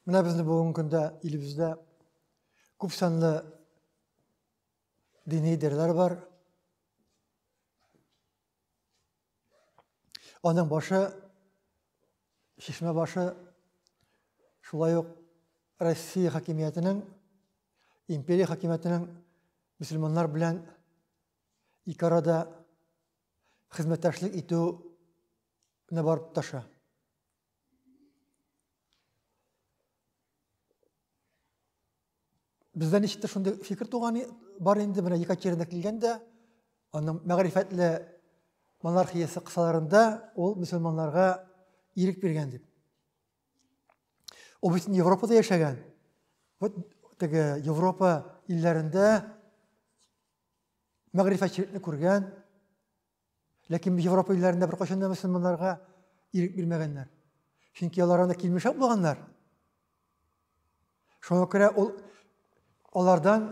Менә безне бүгенге көндә илебездә күп санлы дини дерләр бар. Аның башы, шишмә башы, шулай ук Россия хакимиятенең, империя хакимиятенең мусульманнар белән ике арада хезмәттәшлек итүне барып таша. Бездә ничек тә шундый фикер туган бар инде, менә Екатерина килгәндә, аның мәгърифәтле монархиясе кысаларында ул мөселманларга ирек биргән дип. Ул бит Европада яшәгән. Вот теге Европа илләрендә мәгърифәтчелекне күргән, ләкин Европа илләрендә беркайчан да мөселманнарга ирек бирмәгәннәр. Чөнки алар анда килмешәк булганнар. Шуңа күрә ул алардан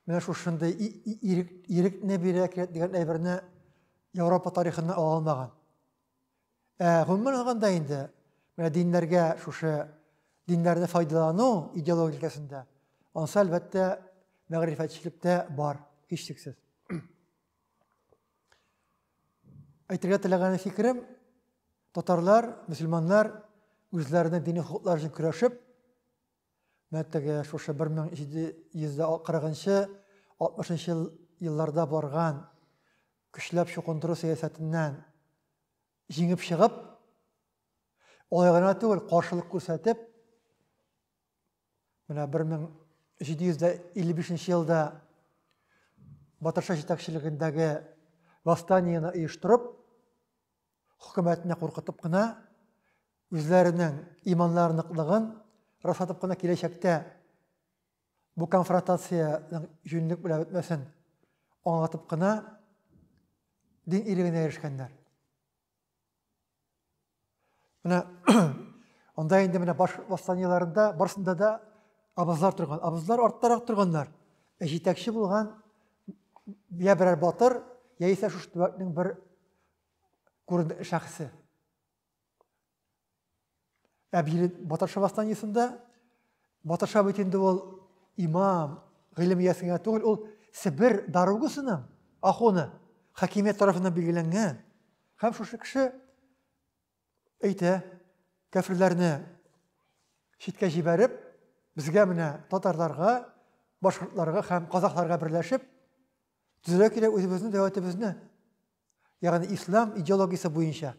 менә шушындый ирек, ирекне бирә кирәк дигән әйберне Европа тарихында ала алмаган. Ә гомумән алганда инде менә диннәргә шушы диннәрне файдалану идеологикасында ансы әлбәттә мәгърифәтчелектә бар, һичшиксез. Әйтергә теләгән фикерем, татарлар, мөселманнар үзләренең дини хокуклары өчен көрәшеп, Менә теге шушы 1740-60 елларда барган көчләп чукындыру сәясәтеннән җиңеп чыгып, алай гына түгел, каршылык күрсәтеп, менә 1755 елда Батырша җитәкчелегендәге восстаниене оештырып, хөкүмәтне куркытып кына, үзләренең иманнары ныклыгын раслатып кына киләчәктә бу конфронтациянең җүнлек белән бетмәсен аңлатып кына дин илегенә ирешкәннәр. Менә анда инде менә баш восстаниеларында барсында да абызлар торган. Абызлар арттарак торганнар. Ә җитәкче булган я берәр батыр, яисә шушы төбәкнең бер күренекле шәхесе. Ә бире Батырша восстаниесында Батырша бит инде ул имам, гыйлем иясе генә түгел, ул Себер даругасының ахуны, хакимият тарафыннан билгеләнгән. Һәм шушы кеше әйтә, кәфирләрне читкә җибәреп, безгә менә татарларга, башкортларга һәм казахларга берләшеп, төзелә кирәк үзебезнең дәүләтебезне. Ягъни ислам идеологиясе буенча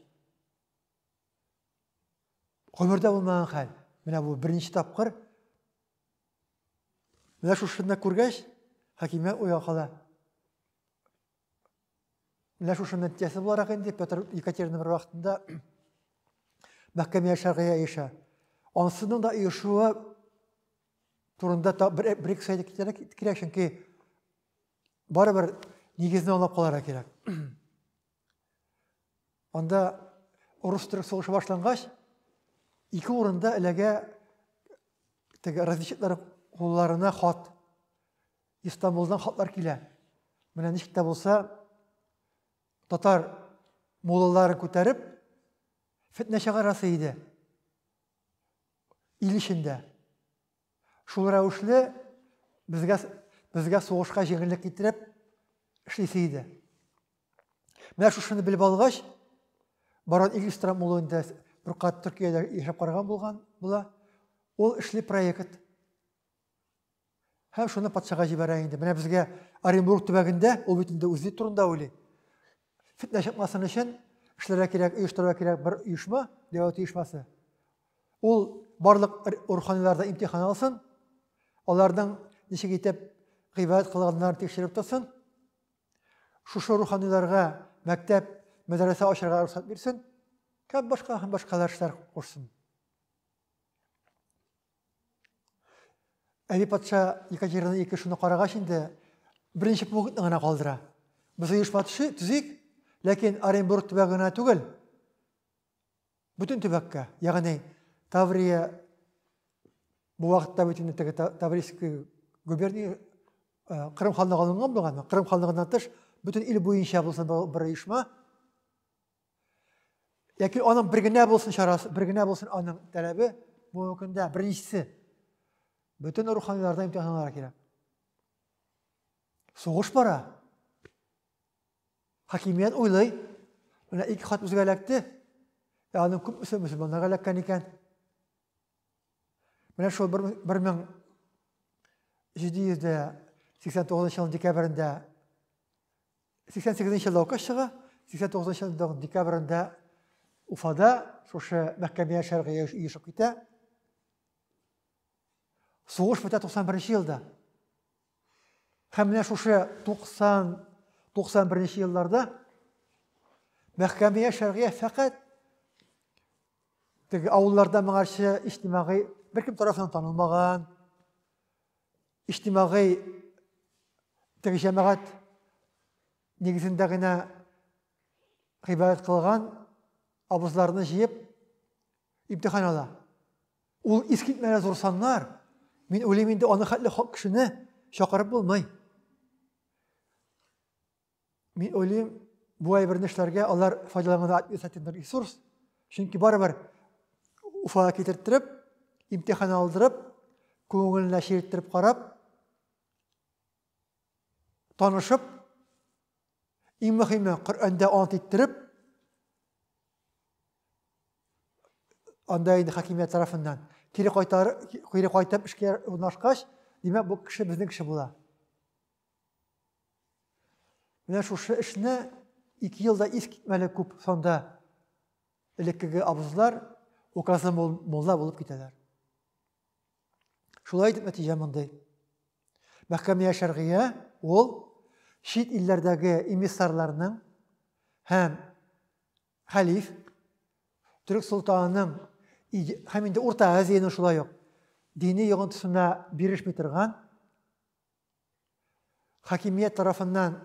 гомердә булмаган хәл. Менә бу беренче тапкыр. Менә шушында күргәч, хакимия уйга кала. Менә шушында нәтиҗәсе буларак инде Петр Екатерина бер вакытында мәхкәмә шәргыгә ирешә. Ансының да ирешүе турында бер-ике сәйдә китәрәк кирәк, чөнки Барыбер нигезне аңлап каларга кирәк. Анда урыс-төрек сугышы башлангач, ике урында эләгә теге разведчиклар кулларына хат. Истанбулдан хатлар килә. Менә ничек тә булса, татар муллаларын күтәреп, фетнә чыгарасы иде. Ил эчендә. Шул рәвешле безгә, безгә сугышка җиңеллек китереп эшлисе иде. Менә шушыны белеп алгач, Барон Игельстрам улы инде бер кат Төркиядә яшәп караган булган була. Ул эшли проект. Һәм шуны патшага җибәрә инде. Менә безгә Оренбург төбәгендә, ул бит инде үзе турында уйлый. Фитнә чыкмасын өчен эшләргә кирәк, оештырырга кирәк бер оешма, дәүләт оешмасы. Ул барлык руханиларда имтихан алсын, аларның ничек итеп гыйбадәт кылганнарын тикшереп торсын. Шушы руханиларга мәктәп, мәдрәсә ачарга рөхсәт бирсен. Һәм башка һәм башкалар эшләр кушсын. Әби патша Екатерина II шуны карагач инде беренче пунктны гына калдыра. Без оешма төзик, ләкин Оренбург төбәге генә түгел. Бөтен төбәккә, ягъни Таврия бу вакытта бөтен теге Таврийский губерния э, Кырым ханлыгы алынган булган, Кырым ханлыгыннан тыш бөтен ил буенча булсын бер оешма. Яки аның бер генә булсын чарасы, бер генә булсын аның таләбе, бу көндә беренчесе. Бөтен руханиларда имтиханнар кирәк. Сугыш бара. Хакимият уйлый. Менә ике хат үзгә эләкте. Ә аның күпмесе мөселманнарга эләккән икән. Менә шул 1789 ел декабрендә 88 нче елда указ чыга, 89 нчы елның декабрендә Уфада шушы мәхкәмә шәргые оешып китә. Сугыш бетә 91 нче елда. Һәм менә шушы 90 91 нче елларда мәхкәмә шәргые фәкать теге авылларда моңарчы иҗтимагый беркем тарафыннан танылмаган, Иҗтимагый теге җәмәгать нигезендә генә гыйбадәт кылган абызларны җыеп имтихан ала. Ул искитмәле зур саннар. Мин уйлыйм инде аны хәтле кешене чакырып булмый. Мин уйлыйм, бу әйберне эшләргә алар файдалануда административный ресурс, чөнки барыбер Уфага китертереп, имтихан алдырып, күңеленә чирттереп карап, танышып, иң мөһиме Коръәндә ант иттереп, анда инде хакимият тарафыннан кире кайтар, кире кайтып эшкә урнашкач, димәк, бу кеше безнең кеше була. Менә шушы эшне ике елда ис китмәле күп санда элеккеге абызлар указлы мулла булып китәләр. Шулай итеп нәтиҗә мондый. Мәхкәмия шәргия ул чит илләрдәге эмиссарларның һәм хәлиф төрек солтанының һәм инде Урта Азияның шулай ук дини йогынтысына бирешми торган хакимият тарафыннан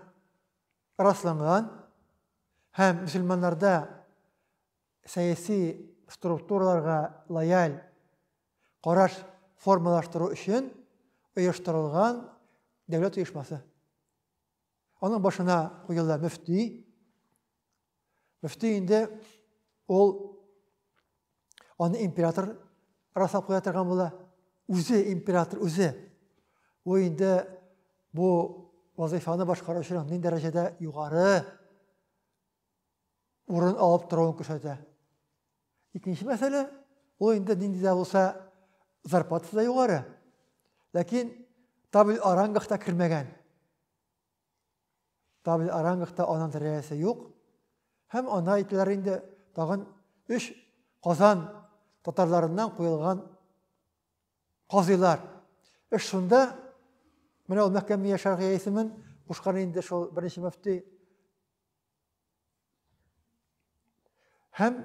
расланган һәм мөселманнарда сәяси структураларга лояль караш формалаштыру өчен оештырылган дәүләт оешмасы. Аның башына куелды мөфти. Мөфти инде ул аны император расап куя торган була. Үзе император үзе. Ул инде бу вазифаны башкаручының ни дәрәҗәдә югары урын алып торуын күрсәтә. Икенче мәсьәлә, ул инде нинди дә булса зарплатасы да югары, ләкин табель орангахта кермәгән. Табель орангахта анан дәрәҗәсе юк. Һәм ана әйтәләр инде тагын өч Казан татарларыннан куелган казыйлар. Эш шунда, менә ул мәхкәмия шәргыясемен кушкан инде шул беренче мөфти Һәм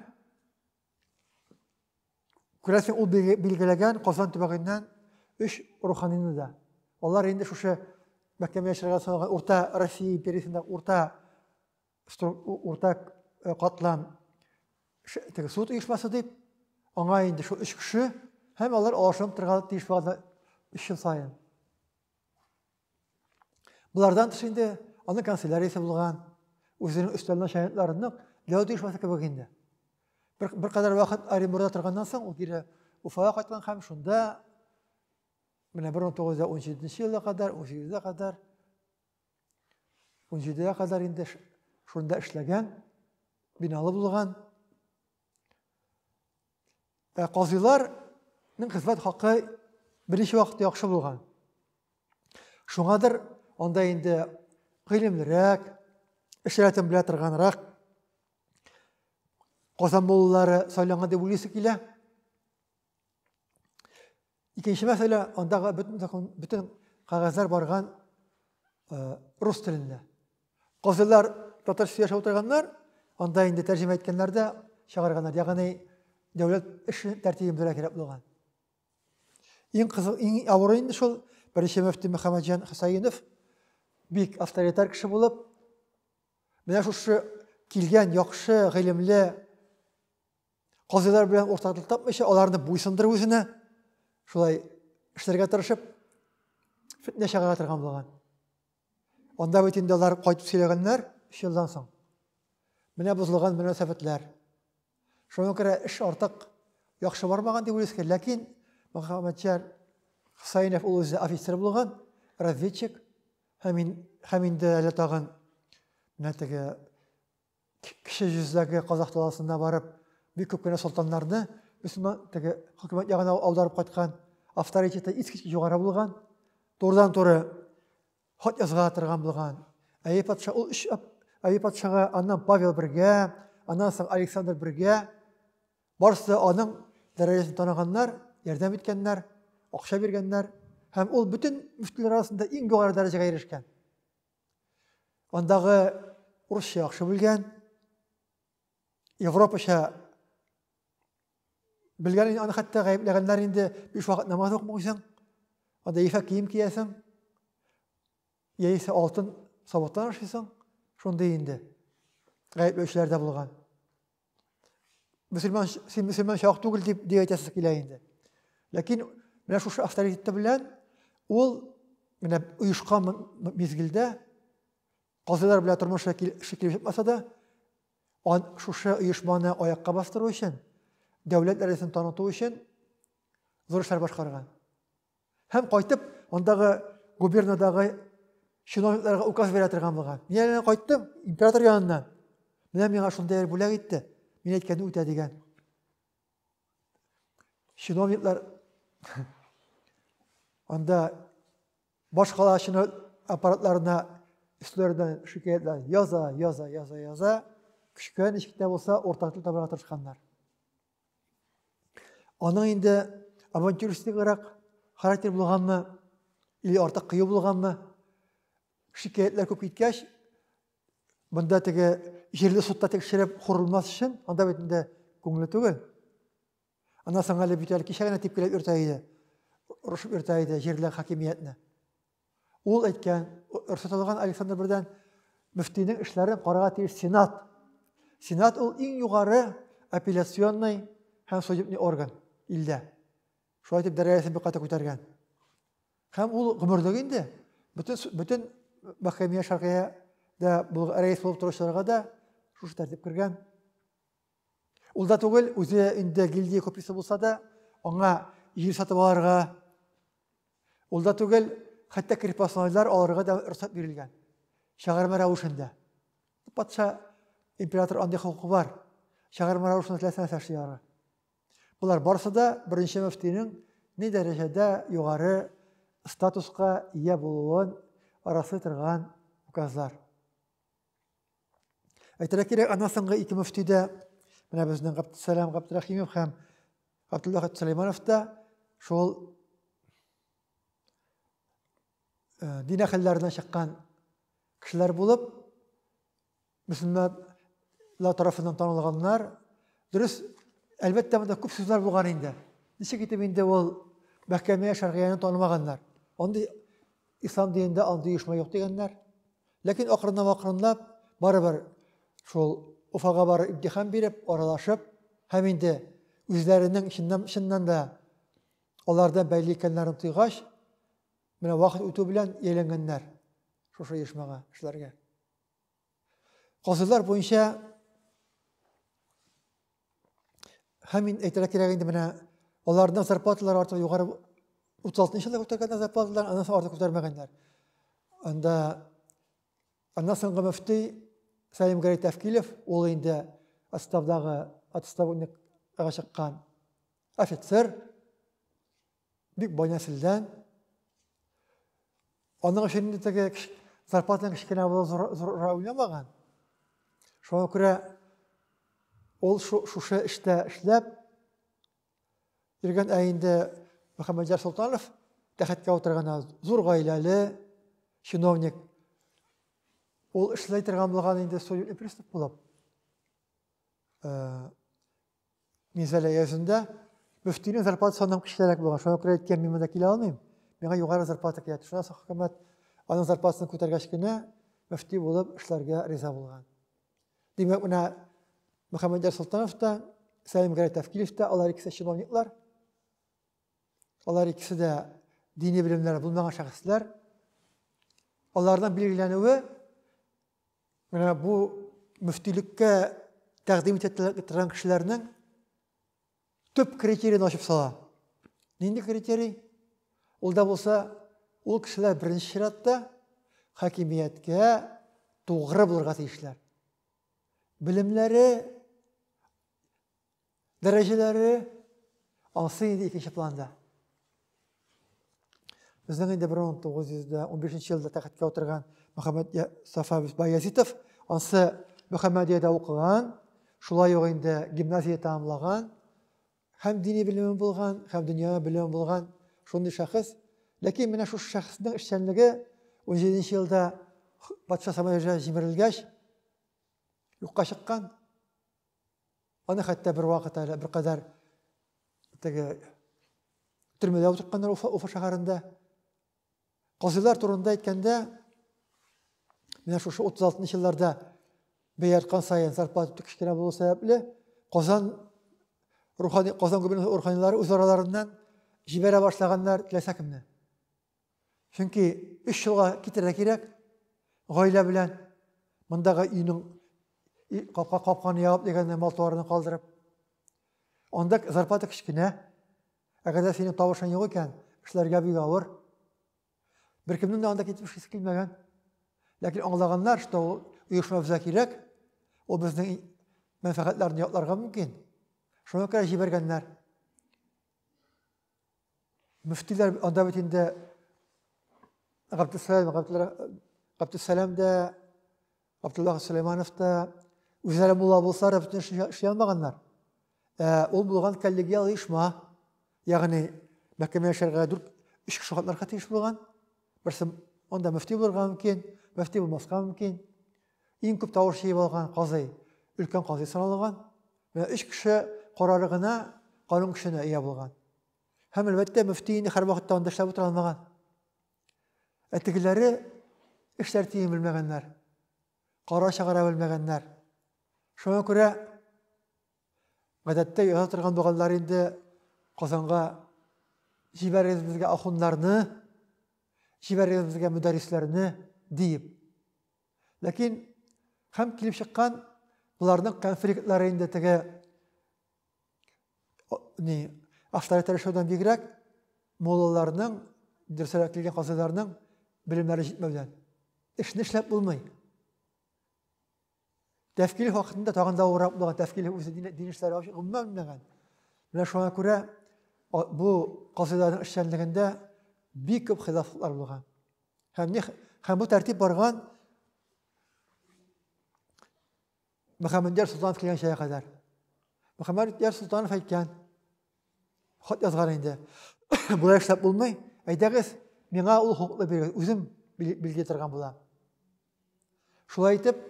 күрәсең ул билгеләгән Казан төбәгеннән өч руханыйны да. Алар инде шушы мәктәбе яшәргә саналган урта Россия империясендә урта урта э, катлам теге суд оешмасы дип, аңа инде шул өч кеше һәм алар алышынып торырга тиеш булган өч ел сайын. Болардан тыш инде аның канцеляриясе булган, үзенең өстәл начальникларының дәү оешмасы кебек инде. Бер, бер кадәр вакыт Оренбургда торганнан соң ул кире Уфага кайткан һәм шунда менә 1917 елга кадәр, 18-гә кадәр 17-гә кадәр инде шунда эшләгән, биналы булган. Ә казыйларның хезмәт хакы беренче вакытта яхшы булган. Шуңадыр анда инде гыйлемлерәк, эш рәтен белә торганрак Казан муллары сайланган дип уйлыйсы килә. Икенче мәсьәлә, андагы бөтен закон, бөтен кагазьләр барган э, рус телендә. Казыйлар татарча яшәп утырганнар, анда инде тәрҗемә иткәннәр дә чыгарганнар. Ягъни дәүләт эше тәртибен белә кирәк булган. Иң кызы, иң авыры инде шул беренче мөфти Мөхәммәдҗан Хусаинов бик авторитар кеше булып, менә шушы килгән яхшы, гыйлемле Казыйлар белән уртаклык тапмыйча, аларны буйсындырып үзенә, шулай эшләргә тырышып, фетнә чыгара торган булган. Анда бит инде алар кайтып сөйләгәннәр, өч елдан соң. Менә бозылган мөнәсәбәтләр. Шуңа күрә эш артык яхшы бармаган дип уйлыйсыз, ләкин Мөхәммәтҗан Хусаинов ул үзе офицер булган, разведчик, һәм, һәм инде әле тагын менә теге кече йөздәге казах даласына барып, бик күп кенә солтаннарны мөселман теге хөкүмәт ягына аударып кайткан, авторитеты искиткеч югары булган, турыдан туры хат язга торган булган. Әйе патша ул өч әйе патшага аннан Павел бергә, аннан соң Александр бергә барысы да аның дәрәҗәсен таныганнар, ярдәм иткәннәр, акча биргәннәр һәм ул бөтен мөфтиләр арасында иң югары дәрәҗәгә ирешкән. Андагы урысча яхшы белгән, европача белгән аны хәтта гаепләгәннәр инде биш вакыт намаз укымыйсың, анда ефәк кием киясең, яисә алтын савыттан ашыйсың, шундый инде гаепләүчеләр дә булган. мөселман, син мөселман чак түгел дип, дип әйтәсе килә инде. Ләкин менә шушы авторитеты белән ул менә оешкан мизгелдә казыйлар белән тормыш шикелле чыкмаса да, он шушы оешманы аякка бастыру өчен, дәүләт дәрәҗәсен таныту өчен зур эшләр башкарган. Һәм кайтып, андагы губернадагы чиновникларга указ бирә торган булган. Мин әле кайттым император яныннан. Менә миңа шундый бүләк итте. Мин әйткәнне үтә дигән. Чиновниклар анда башкала чиновник аппаратларына өсләреннән шикаятьләр яза, яза, яза, яза. Кечкенә ничек тә булса уртак тел табарга тырышканнар. Аның инде авантюристиграк характер булганмы, или артык кыю булганмы, шикаятлар күп киткәч, бында теге җирле судта тикшереп хурылмас өчен, анда бит инде күңеле түгел. Ана соң әле бит әле кичә генә типкеләп йөртә иде. Рушып йөртә иде җирле хакимиятне. Ул әйткән, рөхсәтләнгән Александр бердән мөфтинең эшләрен карарга тиеш сенат. Сенат ул иң югары апелляционный һәм судебный орган илдә. Шулай итеп дәрәҗәсен бик каты күтәргән. Һәм ул гомерлек инде бөтен бөтен мәхкәмә шәргыя дә рәис булып торучыларга да шушы тәртип кергән. Ул да түгел, үзе инде гильдия куписы булса да, аңа җир сатып алырга, ул да түгел, хәтта крепостнойлар алырга да рөхсәт бирелгән. Чыгарма рәвешендә. Патша император андый хокукы бар. Чыгарма рәвешендә теләсә нәрсә эшли алырга. Болар барысы да беренче мөфтинең ни дәрәҗәдә югары статуска ия булуын арасы торган указлар. Әйтергә кирәк, ана соңгы ике мөфти дә, менә безнең Габдусәлам Габдрахимов һәм Габдулла Сөләйманов та шул э, дин әхелләренә чыккан кешеләр булып, мөселманлар тарафыннан танылганнар. Дөрес, әлбәттә, монда күп сүзләр булган инде. Ничек итеп инде ул мәхкәмә шәргыяны танымаганнар? Андый Ислам динендә андый оешма юк дигәннәр. Ләкин акрынлап-акрынлап барыбер шул Уфага барып имтихан биреп, аралашып һәм инде үзләренең чыннан, чыннан да алардан бәйле икәннәрен тойгач, менә вакыт үтү белән ияләнгәннәр шушы оешмага, эшләргә. Казыйлар буенча һәм мин әйтергә кирәк инде менә аларның зарплаталары артык югары 36 елда күтәргәннәр зарплаталарын, аннан соң артык күтәрмәгәннәр. Анда аннан соңгы мөфти Сәлим Гәрәй Тәфкилев, ул инде отставдагы отставникка чыккан офицер, Бик бай нәселдән. Аның өчен инде теге зарплатаның кечкенә булу зурра уйнамаган. Шуңа күрә ул шушы эштә эшләп йөргән, ә инде Мөхәммәдҗар Солтанов тәхеткә утырганда зур гаиләле чиновник. Ул эшләй торган булган инде судебный пристав булып. Э, Мисәле әйәсендә мөфтинең зарплатасы аннан кечерәк булган. Шуңа күрә әйткән, мин монда килә алмыйм. Миңа югары зарплата кирәк. Шуннан соң хөкүмәт аның зарплатасын күтәргәч кенә мөфти булып эшләргә риза булган. Димәк, менә Мөхәммәд Султанов та, Сәлим Гәрәй Тәфкилев та, алар икесе чиновниклар. Алар икесе дә дини белемнәре булмаган шәхесләр. Аларның билгеләнүе Менә бу мөфтилеккә тәкъдим итә торган кешеләрнең төп критериен ачып сала. Нинди критерий? Ул да булса, ул кешеләр беренче чиратта хакимияткә тугры булырга тиешләр. Белемнәре Дәрәҗәләре алсы инде икенче планда. Безнең инде 1915 елда тәхеткә утырган Мөхәммәд Сафа Баязитов ансы Мөхәммәдиядә укыган, шулай ук инде гимназия тәмамлаган, һәм дини белеме булган, һәм дөнья белеме булган шундый шәхес. Ләкин менә шушы шәхеснең эшчәнлеге 17 елда патша самолеты җимерелгәч юкка чыккан. Аны хәтта бер вакыт әле бер кадәр теге төрмәдә утыртканнар Уфа, Уфа шәһәрендә. Казыйлар турында әйткәндә, менә шушы 36 елларда бәя арткан саен зарплата кечкенә булу сәбәпле, Казан рухани Казан губернасы руханилары үз араларыннан җибәрә башлаганнар теләсә кемне. Чөнки өч елга китәргә кирәк гаилә белән мондагы өйнең капка капканы ябып дигәндә мал туарны калдырып. Анда зарплата кечкенә. Әгәр дә синең тавышың юк икән, эшләргә бик авыр. Беркемнең дә анда китеп эшлисе килмәгән. Ләкин аңлаганнар, что ул оешма безгә кирәк, ул безнең мәнфәгатьләрне ятларга мөмкин. Шуңа күрә җибәргәннәр. Мөфтиләр анда бит инде Габдусәлам, Габдусәлам да, Абдулла Сулейманов та үзләре мулла булсалар, бөтен эшли алмаганнар. Ә ул булган коллегиал оешма, ягъни мәхкәмә яшәргә дүрт өч кеше катнарга тиеш булган. Берсе анда мөфти булырга мөмкин, мөфти булмаска мөмкин. Иң күп тавыш җыеп алган казый, өлкән казый саналган. Менә өч кеше карары гына канун көченә ия булган. Һәм, әлбәттә, мөфти инде һәрвакытта анда эшләп утыра алмаган. Ә тегеләре эш тәртибен белмәгәннәр, кара чыгара белмәгәннәр. Шуңа күрә Гадәттә яса торган булганнар инде Казанга җибәрегез безгә ахуннарны, җибәрегез безгә мөдәрисләрне диеп. Ләкин һәм килеп чыккан боларның конфликтлары инде теге ни авторитет тырышудан бигрәк моллаларның дөресрәк килгән казыйларның белемнәре җитмәүдән эшне эшләп булмый Тәфкиле хакында тагын да авыррак булган, тәфкиле үзе дин, дин эшләре гомумән белмәгән. Менә шуңа күрә бу казыйларның эшчәнлегендә бик күп хилафлыклар булган. Һәм, не, һәм бу тәртип барган Мөхәммәдияр Султанов килгән шәя кадәр. Мөхәммәдияр Султанов әйткән, хат язган инде. Болай эшләп булмый, әйдәгез, миңа ул хокуклы бирегез, үзем билгеләтергән булам. Шулай итеп,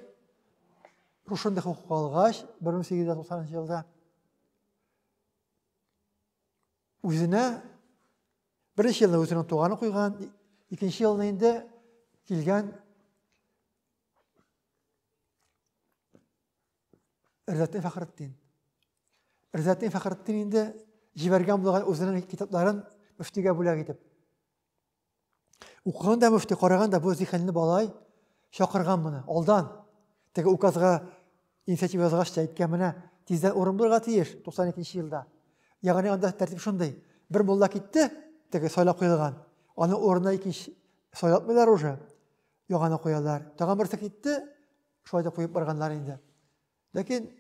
шушындый хокук алгач, 1890 елда үзенә беренче елны үзенең туганы куйган, икенче елны инде килгән Ризатдин Фәхретдин. Ризатдин Фәхретдин инде җибәргән булган үзенең китапларын мөфтигә бүләк итеп. Укыган да мөфти, караган да бу зиһенле балай чакырган моны, алдан. Теге указга инициатива язгач та әйткән менә, тиздән урын булырга тиеш 92 елда. Ягъни анда тәртип шундый. Бер мулла китте, теге сайлап куелган. Аны урынына икенче сайлатмыйлар уже. Яңаны куялар. Тагын берсе китте, шулай да куеп барганнар инде. Ләкин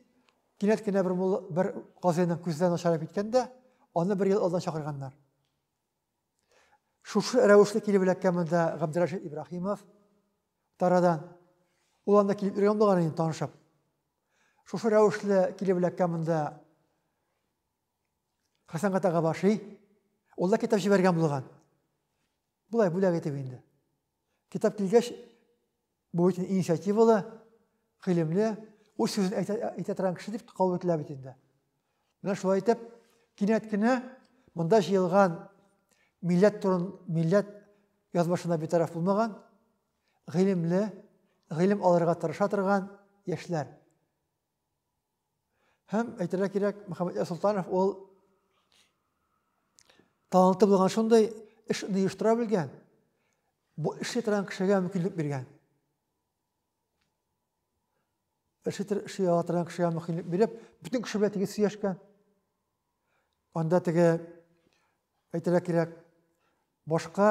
кинәт кенә бер мулла бер казыйның күздән начарып киткәндә, аны бер ел алдан чакырганнар. Шушы рәвешле килеп эләккән монда Габдрәшит Ибраһимов тарадан. Ул анда килеп йөргән булган инде танышып. Шушы рәвешле килеп эләккән монда Хәсән Гатага башы. Ул да китап җибәргән булган. Булай бүләк итеп инде. Китап килгәч, бу бит инициативалы, гыйлемле, үз сүзен әйтә, әйтә торган кеше дип кабул ителә бит инде. Менә шулай итеп, кинәт кенә монда җыелган милләт турын, милләт язмышына битараф булмаган, гыйлемле, гыйлем алырга тырыша торган яшьләр. Һәм әйтергә кирәк, Мөхәммәдияр Солтанов ул таланты булган шундый эшне оештыра белгән, бу эшли торган кешегә мөмкинлек биргән. Эшли ала торган кешегә мөмкинлек биреп, бөтен кеше белән тигез сөйләшкән. Анда теге әйтергә кирәк, башка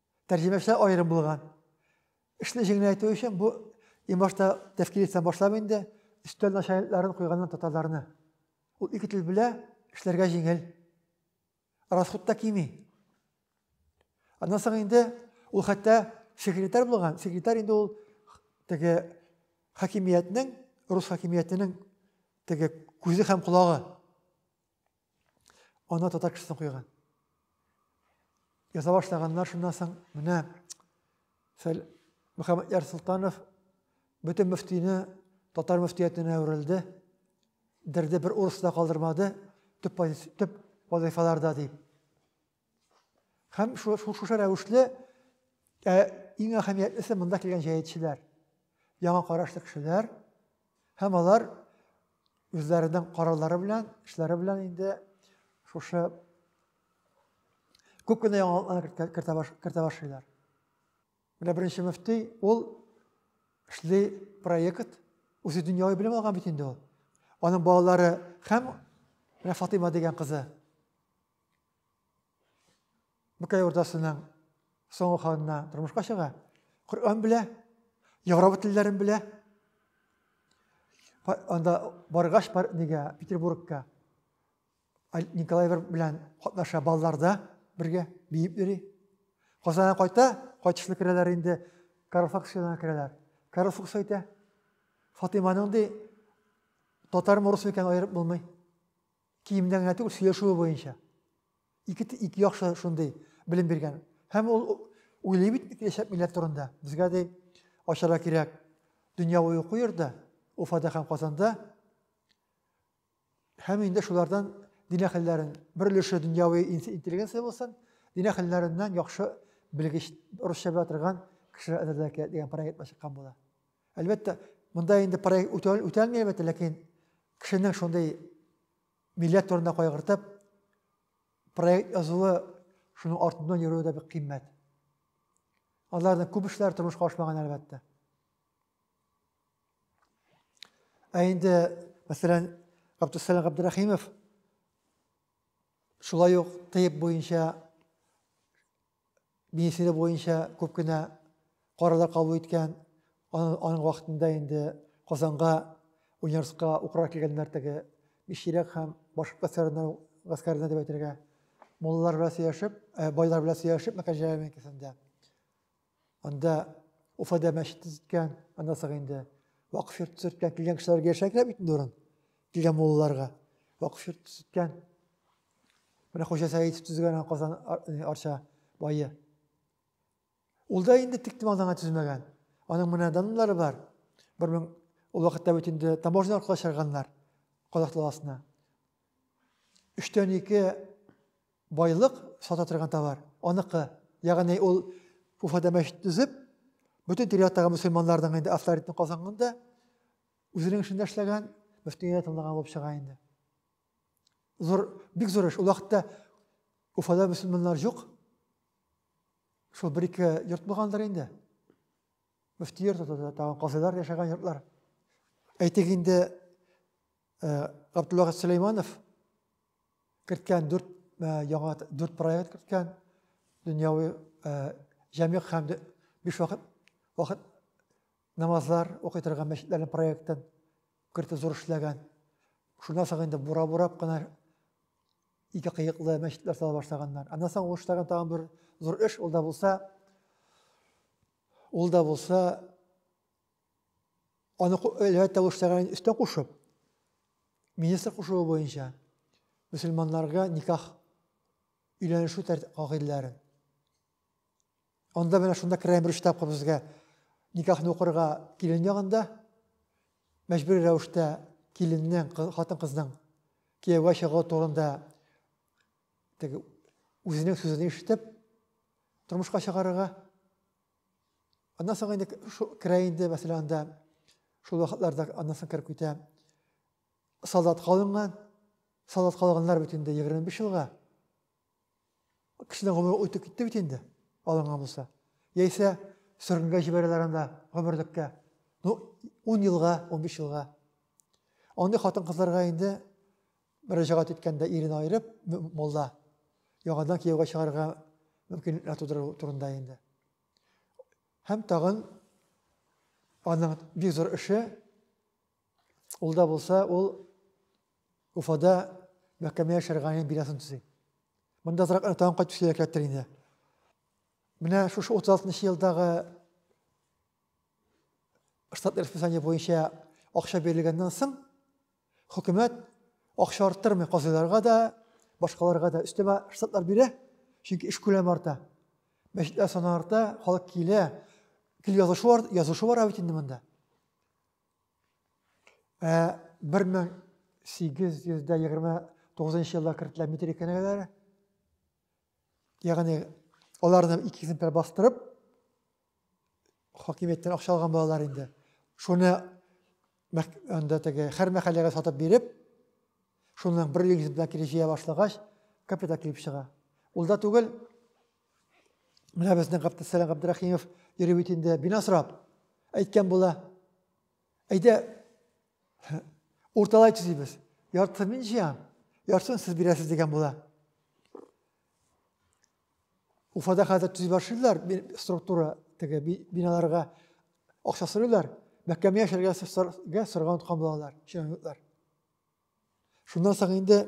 Тәрҗемәчеләр аерым булган. Эшне җиңеләйтү өчен бу иң башта тәфкилиттән башлап инде өстәл начальникларын куйганнан татарларны. Ул ике тел белә, эшләргә җиңел. Расход та кими. Аннан соң инде ул хәтта секретарь булган. Секретарь инде ул теге хакимиятнең, рус хакимиятенең теге күзе һәм колагы. Ана татар кешесен куйган. Яза башлаганнар шуннан соң менә Фәл Мөхәммәд Яр Султанов бөтен мөфтине татар мөфтиятенә әверелде. Дерде бер урыс та калдырмады төп, төп вазифаларда дип. Һәм шушы рәвешле ә, иң әһәмиятлесе монда килгән җәятчеләр, яңа карашлы кешеләр һәм алар үзләренең карарлары белән, эшләре белән инде шушы күп кенә яңалыклар кертә башлыйлар. Менә беренче мөфти ул эшли проект, үзе дөньяви белем алган бит инде ул. Аның балалары һәм менә Фатыйма дигән кызы Бөкәй урдасының соңгы ханына тормышка чыга. Коръән белә, Европа телләрен белә. Анда баргач, бар нигә Петербургка Николай белән катнаша балларда бергә биеп йөри. Казанга кайта, кайтышлы керәләр инде Карл Факсиона керәләр. Карл Фукс әйтә, Фатиманың ди татар морысы икән аерып булмый. Киемнән генә түгел, сөйләшүе буенча. Ике, ике яхшы шундый белем биргән. Һәм ул уйлый бит киләчәк милләт турында. Безгә дә ачарга кирәк. Дөнья буе уку йөрде, Уфада һәм Казанда. Һәм инде шулардан дин әһелләрен, бер өлеше дөньяви интеллигенция булсын, дин әһелләреннән яхшы белгеч, русча белә торган кешеләр әзерләргә кирәк дигән проект чыккан була. Әлбәттә, монда инде проект үтәлми, әлбәттә, ләкин кешенең шундый милләт турында кайгыртып, проект язуы, шуның артыннан йөрүе дә бик кыйммәт. Аларның күп эшләре тормышка ашмаган, әлбәттә. Ә инде, мәсәлән, Габдусәләм Габдрахимов шулай ук тыйп буенча министрлыгы буенча күп кенә карарлар кабул иткән. Аның вакытында инде Казанга университетка укырга килгәннәр теге Миширәк һәм башка гаскәрләренә, гаскәрләренә дип әйтергә. Муллар белән сөйләшеп, э, байлар белән сөйләшеп, мәкән җайларының икесендә. Анда Уфада мәчет төзеткән, аннан соң инде вакыф йорт төзеткән, килгән кешеләргә яшәргә бит инде урын. Килгән мулларга вакыф йорт төзеткән. Менә Хуҗа Сәидов төзегән Казан Арча бае. Ул да инде тик томалдан гына төзмәгән. Аның менә данлары бар. Бер мең ул вакытта бит инде таможня аркылы чыгарганнар Казах даласына. Өчтән ике байлык сата торган товар, аныкы. Ягъни ул Уфада мәчет төзеп, бөтен тирәяктагы мөселманларның инде авторитетын казанган да, үзенең эшендә эшләгән, мөфтигә тыңлаган булып чыга инде. Зур, бик зур эш. Ул вакытта Уфада мөселманнар юк. Шул бер ике йорт булгандыр инде. Мөфти йорты, тагын казыйлар яшәгән йортлар. Әйтик инде, э, Габдулла Сөләйманов керткән дүрт э, яңа дүрт проект керткән дөньяви э, җәмигъ һәм биш вакыт вакыт намазлар укый торган мәчетләрнең проектын Кырты зур эшләгән. Шуннан соң инде бура-бурап кына ике кыеклы мәчетләр сала башлаганнар. Аннан соң ул эшләгән тагын бер зур эш, ул да булса, ул да булса, аны әлбәттә ул эшләгән өстән кушып, министр кушуы буенча мөселманнарга никах өйләнешү кагыйдәләрен Анда менә шунда керәм бер штабка безгә никахны укырга килен ягында мәҗбүри рәвештә киленнең хатын кызның кияүгә чыгуы турында теге үзенең сүзен ишетеп тормышка чыгарырга аннан соң инде керә инде мәсәлән анда шул вакытларда аннан соң кереп китә солдатка алынган солдатка алганнар бит инде егерме биш елга Кешенең гомере үтеп китте бит инде, алынган булса. Яисә сөргенгә җибәрәләр анда гомерлеккә. Ну, 10 елга, 15 елга. Андый хатын-кызларга инде мөрәҗәгать иткәндә ирен айырып, молла яңадан кияүгә чыгарга мөмкинлекләр тудыру турында инде. Һәм тагын аның бик зур эше Ул да булса, ул Уфада мәхкәмә яшәр гаен бинасын төзи. Монда азрак тагын кайтып сөйләргә кирәктер инде. Менә шушы 36 елдагы штат расписание буенча акча бирелгәннән соң хөкүмәт акча арттырмый казыйларга да, башкаларга да өстәмә штатлар бирә, чөнки эш күләме арта. Мәчетләр саны арта, халык килә, кил язышу бар, язышу бар бит инде монда. Ә 1829 елда кертелгән метрик кенәгәләре, ягъни аларны ике экземпляр бастырып, хакимияттән акча алган балалар инде. Шуны анда теге һәр мәхәлләгә сатып биреп, шуның бер экземпляр кире җыя башлагач, капитал килеп чыга. Ул да түгел, Менә безнең Габдусәлам Габдрахимов йөри бит инде, бина сорап. Әйткән була. Әйдә, урталайчы дибез. Яртысын мин җыям, яртысын сез бирәсез дигән була. Уфада хәзер төзи башлыйлар структура теге биналарга акча сорыйлар. Мәхкәмә яшәргә сорган тоткан булалар, чиновниклар. Шуннан соң инде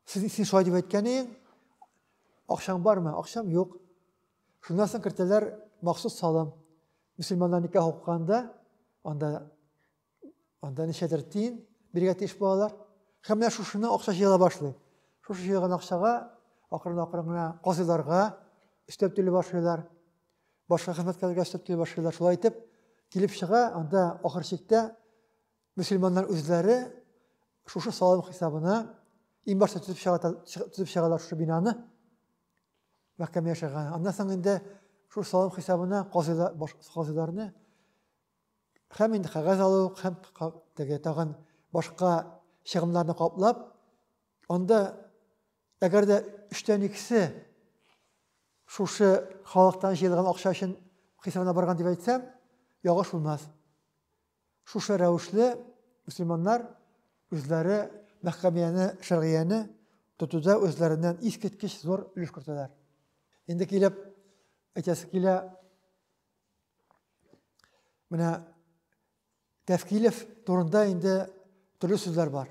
Син, син шулай дип әйткән идең, акчаң бармы? Акчам юк. Шуннан соң кертәләр махсус салым. Мөселманнар никах укыганда, анда, анда ничәдер тиен бирергә тиеш булалар. Һәм менә шушыны акча җыела башлый. Шушы җыелган акчага акрын-акрын гына казыйларга өстәп түли башлыйлар. Башка хезмәткәрләргә өстәп түли башлыйлар. Шулай итеп, килеп чыга, анда ахыр чиктә Мөселманнар үзләре шушы салым хисабына иң башта төзеп чыга, төзеп чыгалар шушы бинаны. Мәхкәмә яшәгән. Аннан соң инде шул салым хисабына казыйларны һәм инде кәгазь алу, һәм теге тагын башка чыгымнарны каплап, анда әгәр дә өчтән икесе шушы халыктан җыелган акча өчен хисабына барган дип әйтсәм, ягыш булмас. Шушы рәвешле мөселманнар үзләре мәхкәмияне, шәргияне тотуда үзләреннән искиткеч зур өлеш кертәләр. Инде килеп әйтәсе килә, менә Тәфкилев турында инде төрле сүзләр бар.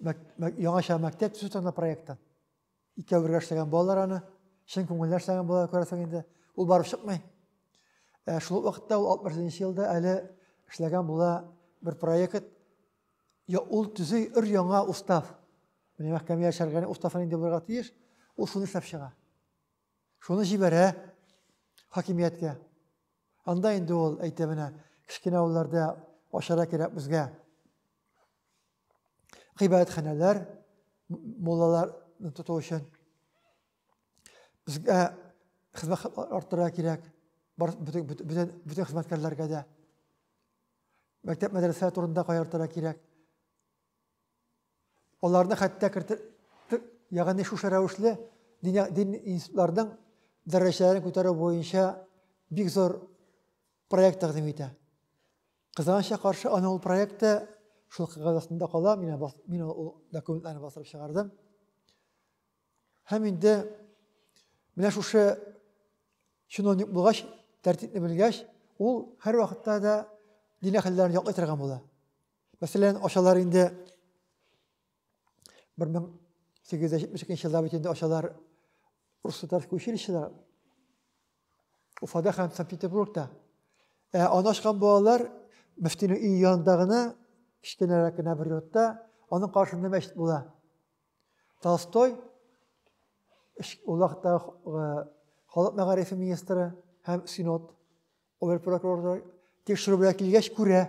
яңача мәктәп төзү турында проектта. Икәү бергә эшләгән балалар аны, чын күңелдән эшләгән балалар күрәсең инде. Ул барып чыкмый. Ә шул вакытта ул 61 елда әле эшләгән була бер проект. Я ул төзи өр яңа устав. Менә мәхкәмә яшәргәне уставын инде булырга тиеш. Ул шуны эшләп чыга. Шуны җибәрә хакимияткә. Анда инде ул әйтә менә, кечкенә авылларда ашара кирәк безгә. Гыйбадәтханәләр, муллаларны тоту өчен безгә хезмәт арттырырга кирәк. Бөтен хезмәткәрләргә дә. Мәктәп мәдрәсә турында каяртырга кирәк. Аларны хәтта кертер, ягъни шушы рәвешле дин, дин институтларының дәрәҗәләрен күтәрү буенча бик зур проект тәкъдим итә. Кызганычка каршы аны ул проекты шул кагазында кала, мин, мин ул документларны бастырып чыгардым. Һәм инде менә шушы чиновник булгач, тәртипне белгәч, ул һәр вакытта да дин әһелләрен яклый торган була. Мәсәлән, ашалар инде 1872 елда бит инде ашалар Руссо-Татарское училищеда, Уфада һәм Санкт-Петербургта. Ә аны ашкан балалар мөфтинең өй янында гына, кечкенәрәк кенә бер йортта, аның каршында мәчет була. Толстой, ул вакытта халык мәгарифе министры һәм синод Обер прокурор да тикшерүгә килгәч күрә.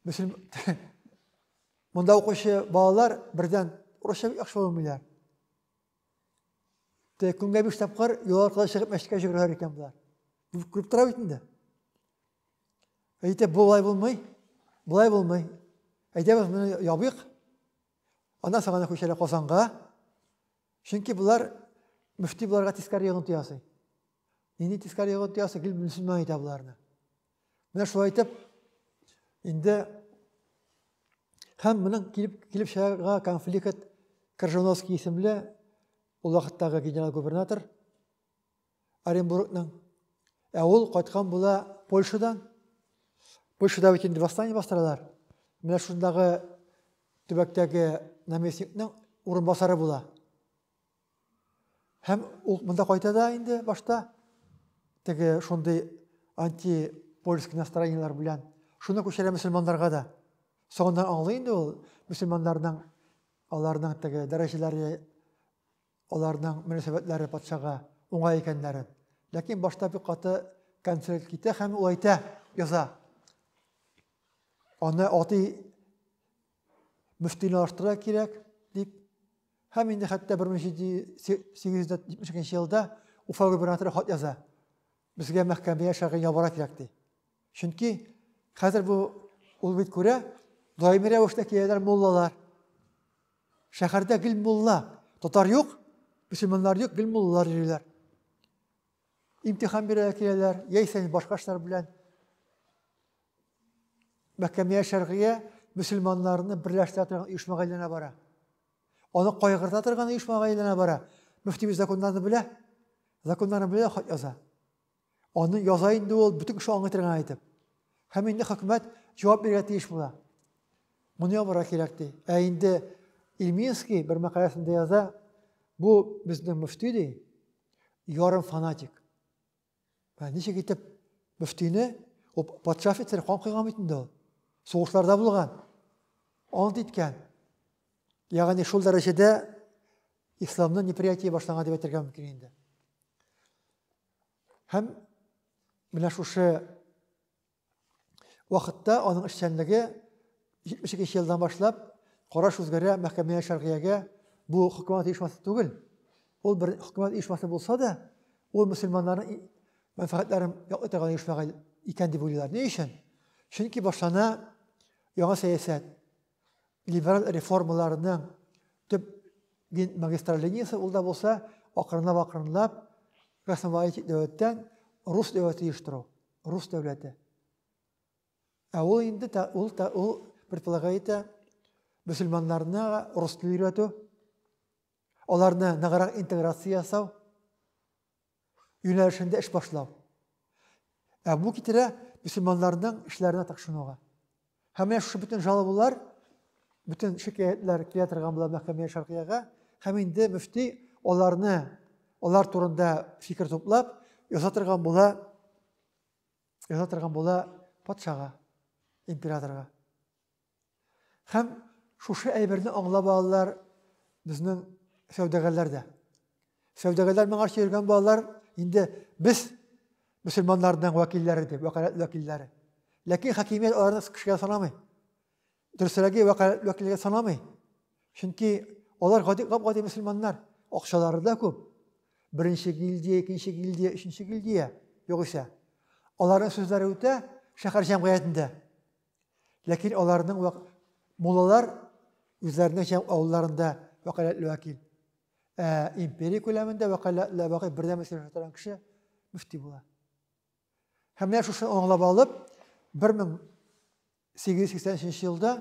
Мөслим монда укучы балалар бердән урысча яхшы белмиләр. Тә көнгә биш тапкыр юл аркылы чыгып мәчеткә йөгерәләр икән болар. Күреп тора бит инде. Әйтә болай булмый, болай булмый. Әйдәбез моны ябыйк. Аннан соң гына күчәләр Казанга. Чөнки болар мөфти буларга тискәре йогынты ясый. Нинди тискәре ягы тоясы килеп мөселман итә боларны. Менә шулай итеп, инде һәм моның килеп, килеп чыгарга конфликт Крыжановский исемле ул вакыттагы генерал-губернатор Оренбургның. Ә ул кайткан була Польшадан. Польшада бит инде восстание бастыралар. Менә шундагы төбәктәге наместникның урынбасары була. Һәм ул монда кайта да инде башта теге шундый антипольск настроениеләр белән шуны күчерә мөселманнарга да. Соңыннан аңлый инде ул мөселманнарның аларның теге дәрәҗәләре, аларның мөнәсәбәтләре патшага уңай икәннәрен. Ләкин башта бик каты конфликт китә һәм ул әйтә, яза. Аны атый мөфтине арттырырга кирәк дип һәм инде хәтта бер мең җиде йөз җитмеш икенче елда уфа губернаторы хат яза безгә мәхкәмәгә шәгыйрь ябара кирәк ди чөнки хәзер бу ул бит күрә даими рәвештә киләләр муллалар шәһәрдә гел мулла татар юк мөселманнар юк гел муллалар йөриләр имтихан бирә киләләр яисә башка эшләр белән Мәкәмия Шәргыя мөселманнарны берләштерә торган оешмага әйләнә бара. Аны кайгырта торган оешмага әйләнә бара. Мөфтибез законнарны белә, законнарны белә хат яза. Аны яза инде ул бөтен кеше аңлый торган әйтеп. Һәм инде хөкүмәт җавап бирергә тиеш була. Моны ябарга кирәк ди. Ә инде Ильминский бер мәкаләсендә яза, бу безнең мөфти ди, ярым фанатик. Ә ничек итеп мөфтине, ул патша офицеры кан койган бит инде ул. Сугышларда булган. Ант иткән. Ягъни шул дәрәҗәдә исламны неприятие башланган дип әйтергә мөмкин инде. Һәм менә шушы вакытта аның эшчәнлеге 72 елдан башлап караш үзгәрә мәхкәмә шәргыягә бу хөкүмәт оешмасы түгел. Ул бер хөкүмәт оешмасы булса да, ул мөселманнарның мәнфәгатьләрен яклый торган оешма икән дип уйлыйлар. Ни өчен? Чөнки башлана яңа сәясәт. Либераль реформаларның төп дин магистраль линиясе ул да булса акрынлап-акрынлап космополитик дәүләттән рус дәүләте оештыру, рус дәүләте. Ә ул инде ул, ул предполагает мөселманнарны рус телен өйрәтү, аларны ныграк интеграция ясау, юнәлешендә эш башлау. Ә бу китерә мөселманнарның эшләренә тыкшынуга. Һәм менә шушы бөтен жалобалар, бөтен шикаятлар килә торган була мәхкәмә шаркыяга, һәм инде мөфти аларны, алар турында фикер туплап, яза торган була, яза торган була патшага, императорга. Һәм шушы әйберне аңлап алалар безнең сәүдәгәрләр дә. Сәүдәгәрләр моңа йөргән балалар инде без мөселманнарның вәкилләре дип, вәкаләт вәкилләре. Ләкин хакимият аларны кешегә санамый. Дөресрәге вәкаләт вәкилләргә санамый. Чөнки алар гади гади мөселманнар, акчалары да күп. Беренче гильдия, икенче гильдия, өченче гильдия югыйсә. Аларның сүзләре үтә шәһәр җәмгыятендә. Ләкин аларның вак... муллалар үзләренең һәм авылларында вәкаләтле вәкил. Ә империя күләмендә вәкаләтле вәкил бердәм мәсьәлә торган кеше мөфти була. Һәм менә шушы аңлап алып 1883 елда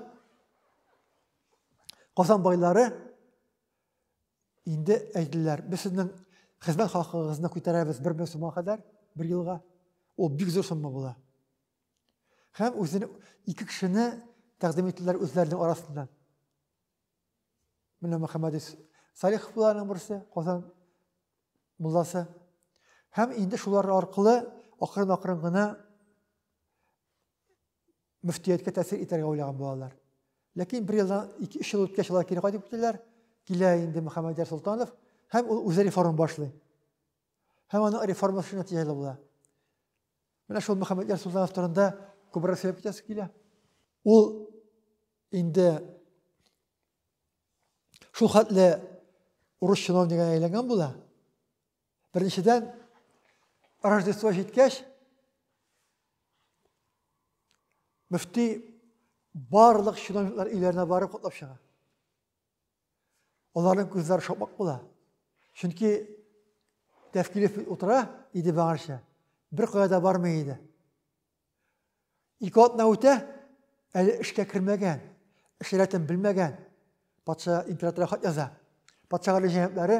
Казан байлары инде әйттеләр, без сезнең хезмәт хакыгызны күтәрәбез 1000 сумга кадәр, бер елга. Ул бик зур сумма була. Һәм үзен ике кешене тәкъдим иттеләр үзләренең арасында. Менә Мөхәммәд Салихов буларның берсе, Казан мулласы. Һәм инде шулар аркылы акрын-акрын гына мөфтияткә тәэсир итәргә уйлаган булалар. Ләкин бер елдан 2-3 ел үткәч алар кире кайтып киттеләр. Килә инде Мөхәммәдияр Солтанов һәм ул үзе реформ башлый. Һәм аның реформасы нәтиҗәле була. Менә шул Мөхәммәд Ярсултанов турында күбрәк сөйләп китәсе килә. Ул инде шул хәтле урыс чиновнигына әйләнгән була. Беренчедән, Рождество җиткәч, мөфти барлык чиновниклар өйләренә барып котлап чыга. Аларның күзләре шапмак була. Чөнки Тәфкилев утыра иде баңарча, бер кая да бармый иде. Ике атна үтә, әле эшкә кермәгән, эш рәтен белмәгән. Патша императорга хат яза. Патша гарәҗәһәтләре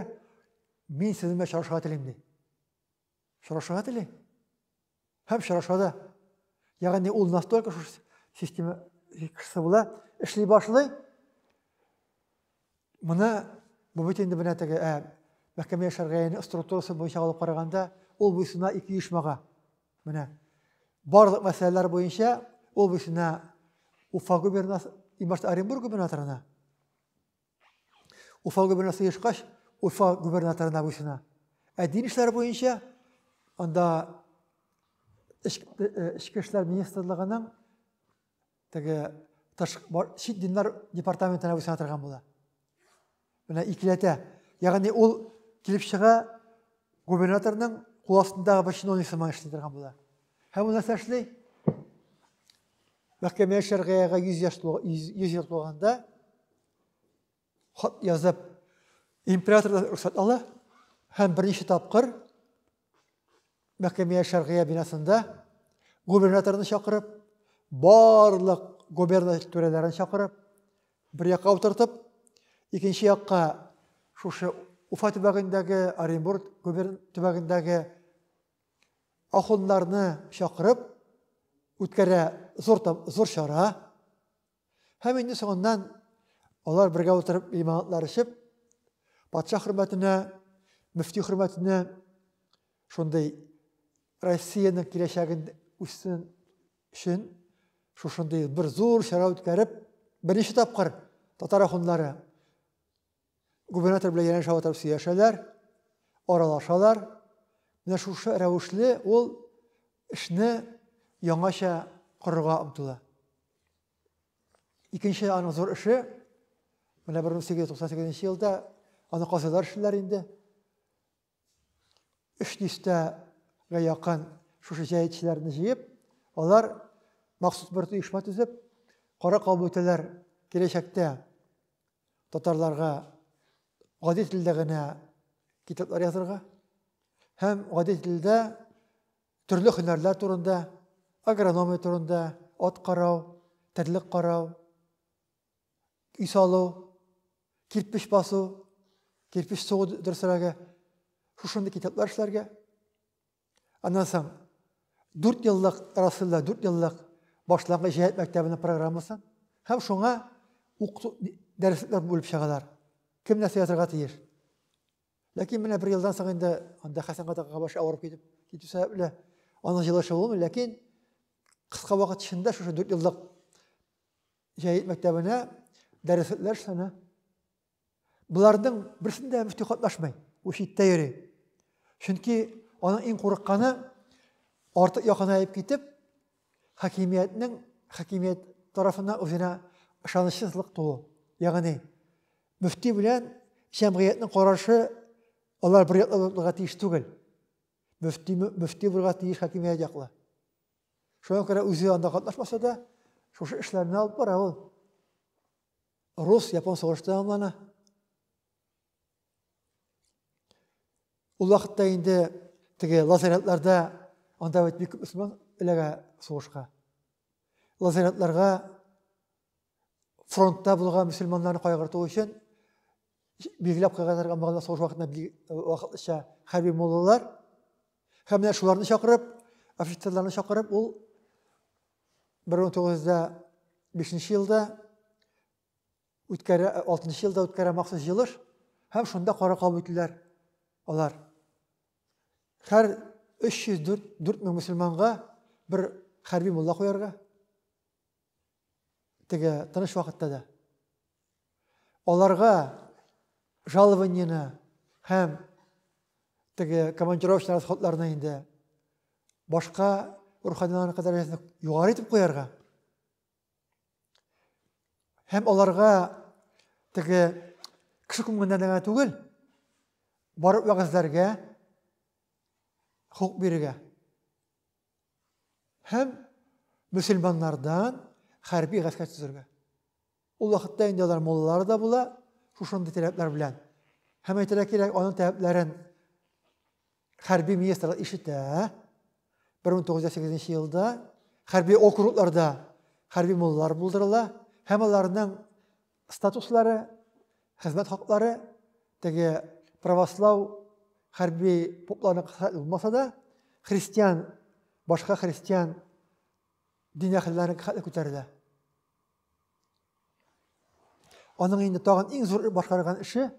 мин сезнең белән чарышырга телим ди. сорашырга тели һәм сораша да. Ягъни ул настолько шушы система кешесе була, эшли башлый. Моны бу бит инде менә теге ә, мәхкәмә яшәргә структурасы буенча алып караганда, ул буйсына ике оешмага. Менә барлык мәсьәләләр буенча ул буйсына Уфа губернасы, имашта Оренбург губернаторына Уфа губернасы ешкач, Уфа губернаторына буйсына. Ә дин эшләре буенча анда эчке эшләр министрлыгының теге чит диннар департаментына буйсына торган була. Менә икеләтә. Ягъни ул килеп чыга губернаторның кул астындагы бер чиновник сыман эшли торган була. Һәм ул нәрсә эшли? Мәхкәмә Шәргыяга йөз ел тулганда хат язып, императордан рөхсәт ала һәм берничә тапкыр мәхкәмә Шәргыя бинасында губернаторны чакырып, барлык губерна түрәләрен чакырып, бер якка утыртып, икенче якка шушы Уфа төбәгендәге, Оренбург төбәгендәге Ахуннарны чакырып үткәрә зур, зур чара. Һәм инде соңыннан алар бергә утырып лимонадлар эчеп, патша хөрмәтенә, мөфти хөрмәтенә шундый Россиянең киләчәген үссен өчен шушындый бер зур чара үткәреп, беренче тапкыр татар ахуннары Губернатор белән янәшә утырып сөйләшәләр, аралашалар. Менә шушы рәвешле ул эшне яңача корырга омтыла. Икенче аның зур эше, менә 1898 елда аны казыйлар эшлиләр инде. Өч дистәгә якын шушы җәетчеләрне җыеп, алар махсус бер оешма төзеп, кара кабул итәләр киләчәктә татарларга гади телдә генә китаплар язырга һәм гади телдә төрле һөнәрләр турында, агрономия турында, ат карау, терлек карау, өй салу, кирпеч басу, кирпеч сугу дөресрәге, шушындый китаплар эшләргә. Аннан соң 4 еллык Расылда 4 еллык башлангыч җәһәт мәктәбенең программасын һәм шуңа укыту дәресләр бүлеп чыгалар. Кем нәрсә язырга тиеш? Ләкин менә бер елдан соң инде анда Хәсән кадагага башы авырып китеп китү сәбәпле аның җылышы булмый, ләкин кыска вакыт эчендә шушы 4 еллык Җәй мәктәбенә дәреслекләр саны. Боларның берсендә мөфти катнашмый, ул читтә йөри. Чөнки аның иң курыкканы артык якынаеп китеп, хакимиятнең хакимият тарафына үзенә ышанычсызлык туу. Ягъни мөфти белән җәмгыятьнең карашы алар бер яклы булырга тиеш түгел. Мөфти мөфти булырга тиеш хакимият яклы. Шуңа күрә үзе анда катнашмаса да, шушы эшләрне алып бара ул. Рус, япон сугышы тәмамлана. Ул вакытта инде теге лазаретларда анда бит бик күп мөселман эләгә сугышка. Лазаретларга фронтта булган мөселманнарны кайгырту өчен билгеләп куйганнар амалда сугыш вакытында вакытлыча хәрби муллалар һәм менә шуларны чакырып офицерларны чакырып ул бер мең тугыз да бишенче елда үткәрә алтынчы елда үткәрә махсус җылыш һәм шунда кара кабул ителәр алар һәр өч йөз дүрт мең мөселманга бер хәрби мулла куярга Теге тыныч вакытта да. Аларга жалованияне һәм теге командировочный расходларны инде башка руханиларның дәрәҗәсен югары итеп куярга һәм аларга теге кеше күңеленнән генә түгел, барып вәгазьләргә, хокук бирергә. Һәм мөселманнардан хәрби гаскәр төзергә. Ул вакытта инде алар муллалары да була, шушындый таләпләр белән. Һәм әйтергә кирәк, аның таләпләрен хәрби министр ишетә. 1908 елда хәрби округларда хәрби муллар булдырыла һәм аларның статуслары, хезмәт хаклары теге правослау хәрби попларына касатлы булмаса да, христиан, башка христиан дин әһелләренә касатлы күтәрелә. Аның инде тагын иң зур башкарган эше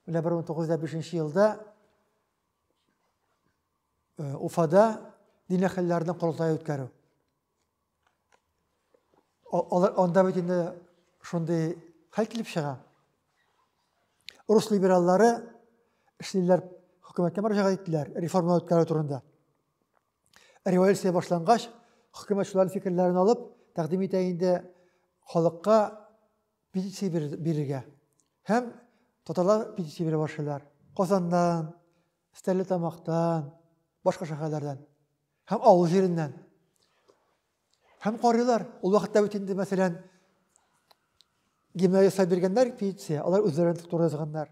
менә 1905 елда Уфада дин әһелләренең корылтае үткәрү. Алар анда бит инде шундый хәл килеп чыга. Рус либераллары эшлиләр хөкүмәткә мөрәҗәгать иттеләр реформалар үткәрү турында. Революция башлангач, хөкүмәт шуларның фикерләрен алып, тәкъдим итә инде халыкка петиция бирергә. Һәм татарлар петиция бирә башлыйлар. Казаннан, Стәрлетамактан, башка шәһәрләрдән. Һәм авыл җиреннән. Һәм карыйлар, ул вакытта бит инде, мәсәлән, гимна ясап биргәннәр пенсия, алар үзләрен турында язганнар.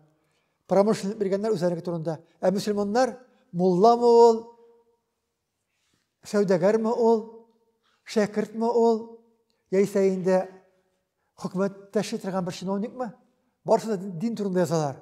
Промышленник биргәннәр үзләренеке турында. Ә мөселманнар мулламы ул, сәүдәгәрме ул, шәкертме ул, яисә инде хөкүмәттәше торган бер чиновникмы? Барысы да дин турында язалар.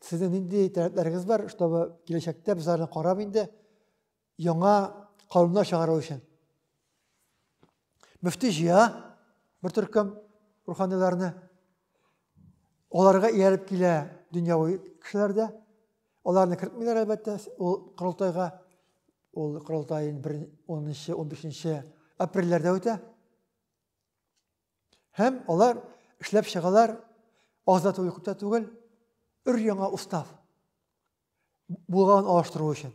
Сезнең нинди таләпләрегез бар, чтобы киләчәктә без аларны карап инде яңа кануннар чыгару өчен? Мөфти җыя бер төркем руханиларны. Аларга ияреп килә дөньяви кешеләр дә. Аларны кертмиләр әлбәттә ул корылтайга. Ул корылтай 10-15 апрельләрдә үтә. Һәм алар эшләп чыгалар, аз да түгел, күп тә түгел, өр яңа устав булган алыштыру өчен.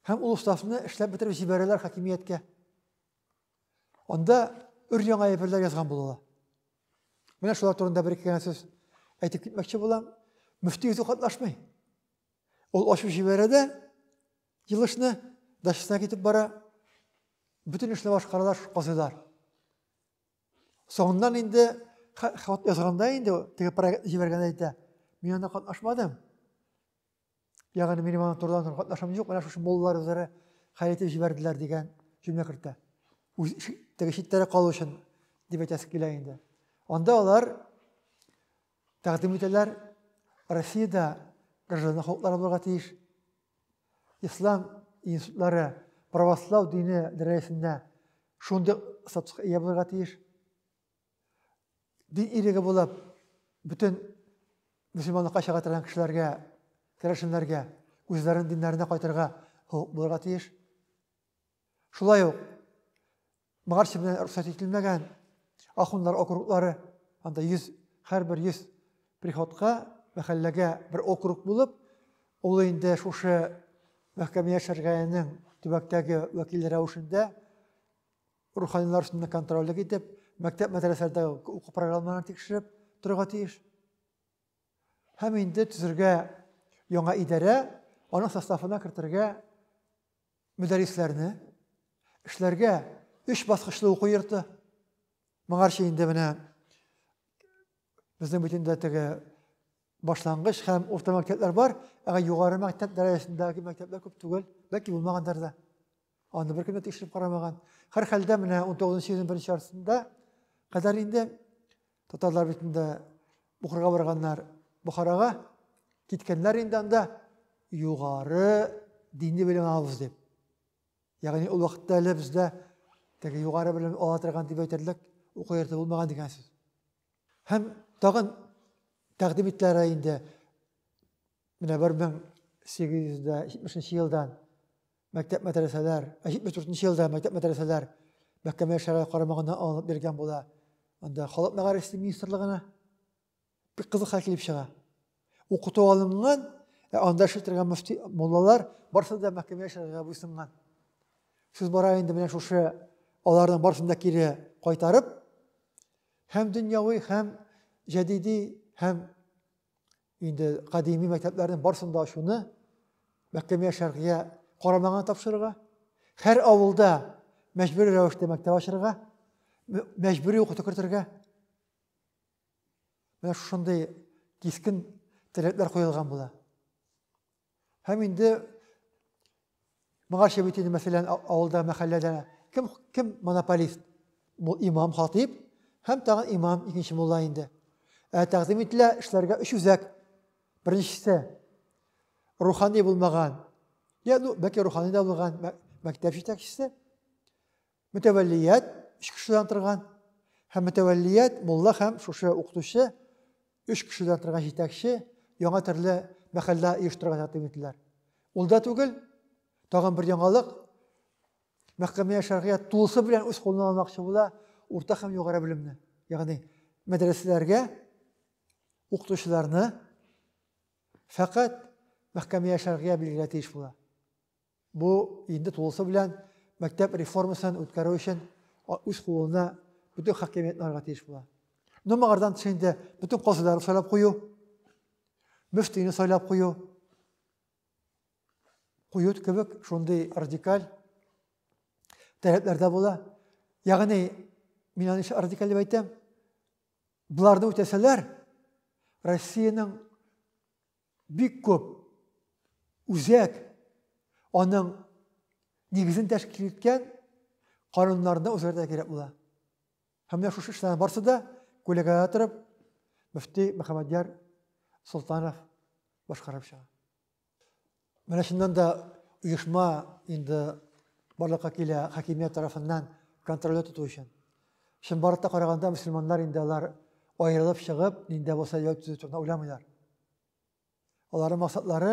Һәм ул уставны эшләп бетереп җибәрәләр хакимияткә. Анда өр яңа әйберләр язган булалар. Менә шулар турында бер ике генә сүз әйтеп китмәкче булам. Мөфти үзе катнашмый. Ул ачып җибәрә дә, Елышны дачасына китеп бара, бөтен эшне башкаралар, казыйлар. Соңыннан инде хат язганда инде теге проект җибәргәндә әйтә, мин анда катнашмадым. Ягъни минем аны турыдан катнашым юк, менә шушы моллар үзләре хәл итеп җибәрделәр дигән җөмлә кертә. Үз теге читтәрәк калу өчен дип әйтәсе килә инде. Анда алар Тәкъдим итәләр, Россиядә гражданлык хокуклары булырга тиеш. Ислам институтлары православ дине дәрәҗәсендә шундый статуска ия булырга тиеш. Дин иреге булып, бөтен мөселманлыкка чыга торган кешеләргә, керәшеннәргә үзләренең диннәренә кайтырга хокук булырга тиеш. Шулай ук Моңарчы белән рөхсәт ителмәгән ахуннар округлары, анда 100 һәрбер 100 приходка, мәхәлләгә бер округ булып, ул инде шушы мәхкәмә шәргәенең төбәктәге вәкиле рәвешендә руханилар өстендә контрольлек итеп, мәктәп мәдрәсәләрдәге уку программаларын тикшереп торырга тиеш. Һәм инде төзергә яңа идарә, аның составына кертергә мөдәррисләрне эшләргә өч баскычлы уку йорты. Моңарчы инде менә безнең бит инде теге башлангыч һәм урта мәктәпләр бар, әгә югары мәктәп дәрәҗәсендәге мәктәпләр күп түгел, бәлки булмагандыр да. Аны бер кем дә тикшереп карамаган. Һәр хәлдә менә 19 нчы елның беренче яртысында кадәр инде Татарлар бит инде Бухарага барганнар. Бухарага киткәннәр инде анда югары дини белем алабыз дип. Ягъни ул вакытта әле бездә теге югары белем ала торган дип әйтерлек уку йорты булмаган дигән сүз. Һәм тагын тәкъдим иттеләр инде менә 1870 елдан мәктәп мәдрәсәләр, 74 нче елда мәктәп мәдрәсәләр мәхкәмә шәрә карамагына алынып биргән була. Анда халык мәгарифе министрлыгына бик кызык хәл килеп чыга. Укыту алынган, ә анда эшли торган мөфти муллалар барысы да мәхкәмә шәрәгә буйсынган. Сүз бара инде менә шушы аларның барысын да кире кайтарып, һәм дөньяви, һәм җәдиди, һәм инде кадими мәктәпләрнең барысын да ачуны мәхкәмә шәргия карамагына тапшырырга, һәр авылда мәҗбүри рәвештә мәктәп ачырга, мәҗбүри укыту кертергә. Менә шушындый кискен таләпләр куелган була. Һәм инде моңарчы бит инде, мәсәлән, авылда, мәхәлләдә кем, кем монополист? Бу имам хатип һәм тагын имам икенче мулла инде. Ә тәкъдим ителә эшләргә өч үзәк. Беренчесе рухани булмаган, я, ну, бәлки рухани да булган мәктәп җитәкчесе, Мөтәвәллият өч кешедән торган һәм мөтәвәллият мулла һәм шушы укытучы өч кешедән торган җитәкче яңа төрле мәхәллә оештырырга тәкъдим иттеләр. Ул да түгел, тагын бер яңалык. Мәхкәмә шәргыя тулысы белән үз кулына алмакчы була урта һәм югары белемне. Ягъни мәдрәсәләргә укытучыларны фәкать мәхкәмә шәргыя билгеләргә тиеш була. Бу инде тулысы белән мәктәп реформасын үткәрү өчен үз кулына бөтен хакимиятне алырга тиеш була. Ну, моңардан тыш инде бөтен казыйларны сайлап кую, мөфтине сайлап кую, кую кебек шундый радикаль таләпләрдә була. Ягъни, мин аны нишләп радикаль дип әйтәм? Боларны үтәсәләр, Россиянең Бик күп үзәк аның нигезен тәшкил иткән кануннарны үзгәртә кирәк була. Һәм менә шушы эшләрнең барысы да күләгәдә торып, мөфти Мөхәммәдьяр Солтанов башкарып чыга. Менә шуннан да оешма инде барлыкка килә хакимият тарафыннан контрольдә тоту өчен. Чынбарлыкта караганда мөселманнар инде алар аерылып чыгып, нинди булса ял төзү турында уйламыйлар. Аларның максатлары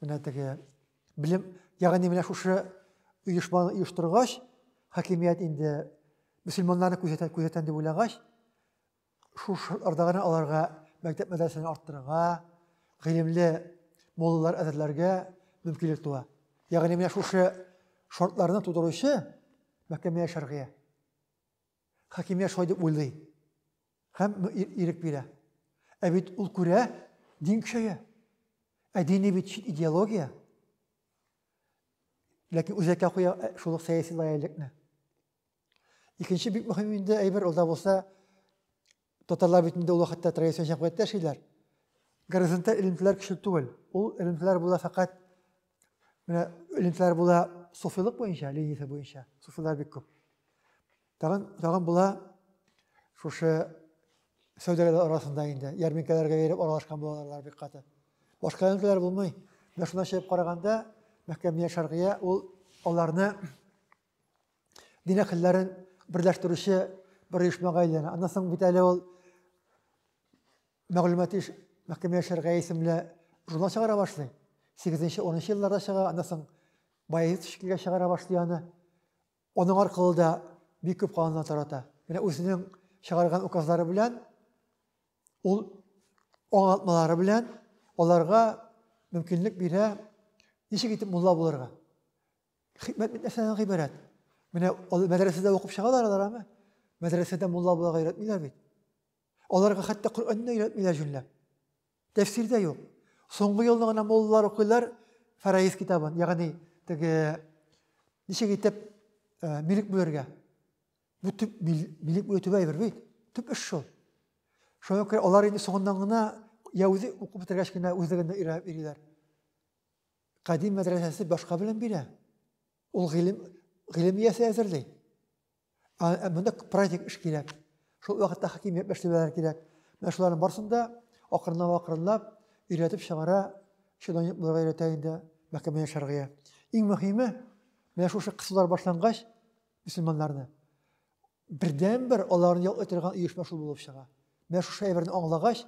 менә теге белем, ягъни менә шушы оешманы оештыргач, хакимият инде мөселманнарны күзәтә, күзәтән дип уйлагач, шул шартларда гына аларга мәктәп мәдрәсәне арттырырга, гыйлемле моллалар әзерләргә мөмкинлек туа. Ягъни менә шушы шартларны тудыручы мәхкәмә шәргыя. Хакимият шулай дип уйлый. Һәм ирек бирә. Ә бит ул күрә, дин көчәя. Ә дини бит чит идеология. Ләкин үзәккә куя э, шул ук сәяси лояльлекне. Икенче бик мөһим инде әйбер ул да булса, татарлар бит инде ул вакытта традицион җәмгыятьтә яшиләр. Горизонталь элемтәләр көчле түгел. Ул элемтәләр була фәкать менә элемтәләр була суфилык буенча, линиясе буенча. Суфилар бик күп. Тагын, тагын була шушы сәүдәгәрләр арасында инде, ярминкәләргә йөреп аралашкан булалар бик каты. Башка ярминкәләр булмый. Менә шунда чыгып караганда, Мәхкәмия Шәргия ул аларны дин әһелләрен берләштерүче бер оешмага әйләнә. Аннан соң бит әле ул мәгълүмати Мәхкәмия Шәргия исемле журнал чыгара башлый. 8-10 елларда чыга, аннан соң Баязит шикелгә чыгара башлый аны. Аның аркылы да бик күп кануннар тарата. Менә үзенең чыгарган указлары белән, ул аңлатмалары белән аларга мөмкинлек бирә, ничек итеп мулла булырга. Хикмәт бит нәрсәдән гыйбарәт? Менә алар мәдрәсәдә укып чыгалар алар аны. Мәдрәсәдә мулла буларга өйрәтмиләр бит. Аларга хәтта Коръәнне өйрәтмиләр җүнләп. Тәфсирдә юк. Соңгы елны гына муллалар укыйлар Фараиз китабын, ягъни теге ничек итеп э, милек бүлергә. Бу төп милек бүлү төп әйбер бит. Төп эш шул. Шуңа күрә алар инде соңыннан гына я үзе укып бетергәч кенә үзлегенә өйрәнеп йөриләр. Кадим мәдрәсәсе башка белем бирә. Ул гыйлем гыйлем иясе әзерли. Ә монда праздник эш кирәк. Шул вакытта хакимият мәшәләләре кирәк. Менә шуларның барысын да акрынлап акрынлап өйрәтеп чыгара, чиновник буларга өйрәтә инде мәхкәмә шәргыя. Иң мөһиме, менә шушы кысулар башлангач, мөселманнарны бердәнбер аларны ял итәргә оешма шул булып чыга. Менә шушы әйберне аңлагач,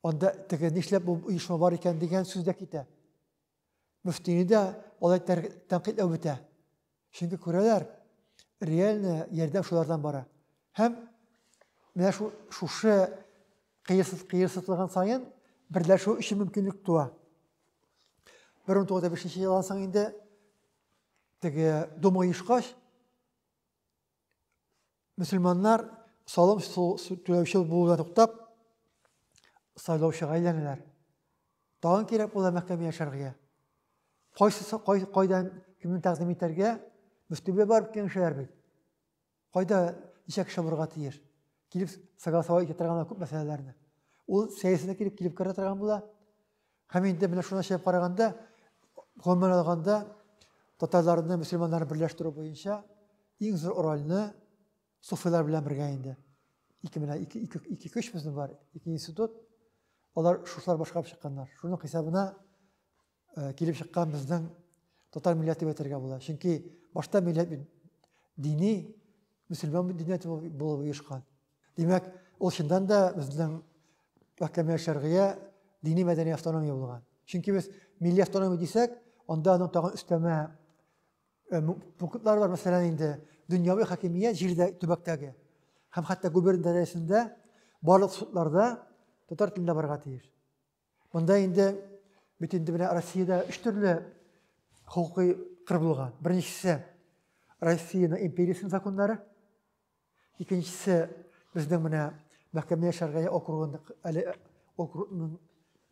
Анда теге нишләп бу оешма бар икән дигән сүз дә китә. Мөфтине дә алай тәнкыйтьләү бетә. Чөнки күрәләр, реальный ярдәм шулардан бара. Һәм менә шу, шушы кыерсыз кыерсызлыгын саен берләшү өчен мөмкинлек туа. 1905 елдан соң инде теге Дума оешкач, мөселманнар салым түләүче булуда туктап, сайлаучыга әйләнәләр. Тагын кирәк була мәхкәмә яшәргә. Кайсы кай, кайдан кемне тәкъдим итәргә мөфтигә барып киңәшләр бит. Кайда ничә кеше булырга тиеш? килеп согласовать итә торган күп мәсьәләләрне. Ул сәясәткә килеп килеп керә торган була. Һәм инде менә шуны чыгып караганда, гомумән алганда, татарларны, мөселманнарны берләштерү буенча иң зур рольне суфилар белән бергә инде. Ике менә ике ике ике көч безнең бар, ике институт. Алар шушлар башкарып чыкканнар. Шуның хисабына э, килеп чыккан безнең татар милләте дип әйтергә була. Чөнки башта милләт дини мөселман динияте булып оешкан. Димәк, ул чыннан да безнең мәхкәмә шәргыя дини мәдәни автономия булган. Чөнки без милли автономия дисәк, анда аның тагын өстәмә э, пунктлары бар, мәсәлән, инде дөньяви хакимият җирдә төбәктәге һәм хәтта губерния дәрәҗәсендә барлык судларда татар телендә барырга тиеш. Монда инде бит инде менә Россиядә өч төрле хокукый кыр булган. Беренчесе Россиянең империясының законнары. Икенчесе безнең менә мәхкәмә шәргая округының әле округның